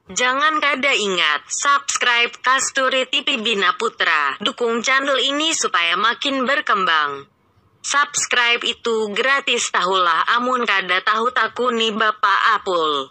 Jangan kada ingat subscribe kasturi tipi bina putra dukung channel ini supaya makin berkembang subscribe itu gratis tahulah amun kada tahu takuni bapak apul.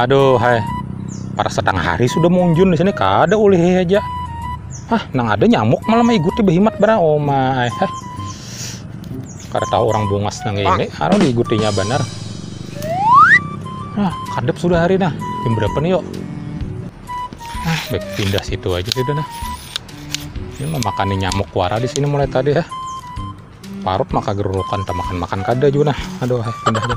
Aduh, hai. Para sedang hari sudah munjun di sini kada ulih aja. Hah, nang ada nyamuk malam iguti behimat bara oma. Hai. Kada tahu orang bungas nang ini, anu diigutinya banar. Nah, kadep sudah hari nah. Jam berapa nih yuk? Nah, baik pindah situ aja sudah nah. Ini memakan nyamuk wara di sini mulai tadi ya. Parut maka gerurukan, tak makan-makan kada juga nah. Aduh, eh, pindah aja.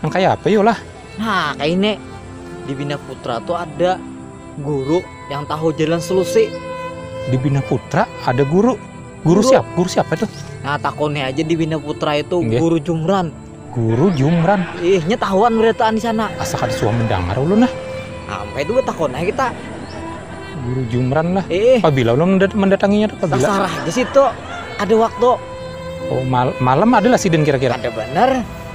Nang kaya apa yu lah? Nah kaya ini, di Bina Putra tu ada guru yang tahu jalan selusi. Di Bina Putra ada guru. Guru, guru. siapa? Guru siapa itu? Nah takoni aja di Bina Putra itu Nggih. guru Jumran. Guru Jumran. Ihnya tahuan berataan di sana. Asa kada suah mendengar ulun lah. Sampai itu takon aja kita. Guru Jumran lah. Eh. Pabila ulun mendatanginya tuh pabila? Terserah di situ. Ada waktu. Oh mal malam adalah sidin kira-kira. Ada benar.